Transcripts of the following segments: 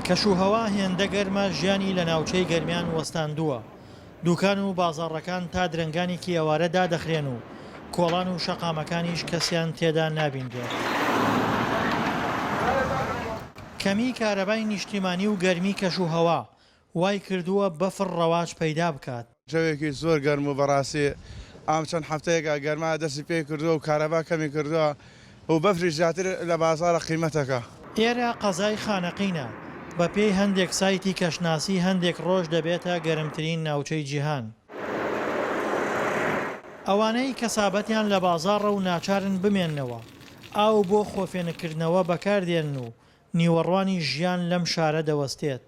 کەشوهەوا هێندە گەرمە ژیانی لە ناوچەی گەرمیان وەستاندووە، دوکان و بازاڕەکان تا درەنگانێکی ئەوارە دادەخرێن و کۆڵان و شەقامەکانیش کەسیان تێدا نابینرێت. کەمیی کارەبای نیشتیمانی و گەرمی کەشوهەوا وای کردووە بەفڕ ڕەواج پەیدا بکات. جەوێکی زۆر گەرم و بەڕاستی ئەم چەند هەفتەیەکە گەرما دەستی پێ کردووە و کارەبا کەمی کردووە و بەفریش زیاتر لە بازاڕە قیمەتەکە. ئێرە قەزای خانەقینە، بە پێی هەندێک سایتی کەشناسی هەندێک ڕۆژ دەبێتە گەرمترین ناوچەی جیهان. ئەوانەی کەسابەتیان لە بازاڕە و ناچارن بمێننەوە، ئاو بۆ خۆفێنککردنەوە بەکاردێنن و نیوەڕوانی ژیان لەم شارە دەوەستێت.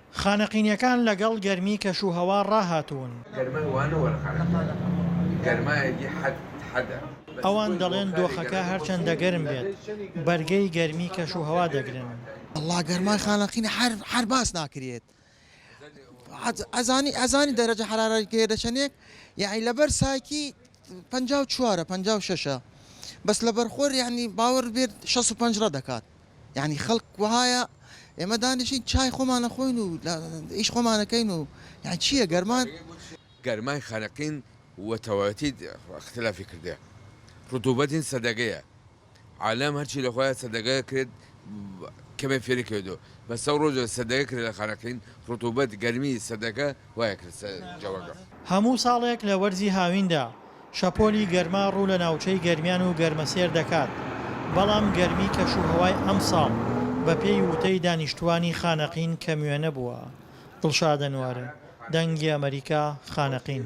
خانەقینیەکان لەگەڵ گەرمی کەش و هەوا ڕاهاتوون. گەرمای وانە وەرخانەقینە گەرمایەکی حەد حەدە. ئەوان دەڵێن دۆخەکە هەرچەندە گەرم بێت بەرگەی گەرمی کەش و هەوا دەگرن. وەڵا گەرمای خانەقینە حەر حەر باس ناکرێت ئەزانی ئەزانی دەرەجە حەرارەی پێ دەچەنێک یەعنی لەبەر سایتی پەنجا و چوارە پەنجا و شەشە بەس لەبەرخۆر یەعنی باوەڕ بێت شەست و پەنج ڕەدەکات. یانی خەڵک وەهایە ئێمە دانیشین چای خۆمان ئەخۆین و ئیش خۆمان ئەکەین و یان چییە گەرمان؟ گەرمای خەنەقین وە تەواوەتی ئختلافی کردە رتوبەتین سەدەگەیە عالەم هەرچی لە خۆیا سەدەگە کرێت کەمێ فێری کەێدۆ بەسە ڕۆژە سەدەگە کرێ لە خەنەقین رتوبەت گەرمی سەدەگە هەموو ساڵێک لە وەرزی هاویندا، شەپۆلی گەرما ڕوو لە ناوچەی گەرمیان و گەرمەسێر دەکات، بەڵام گەرمی کەشوهەوای ئەمساڵ بەپێی وتەی دانیشتووانی خانەقین کەموێنە بووە. دڵشادە نوارم، دەنگی ئەمەریکا، خانەقین.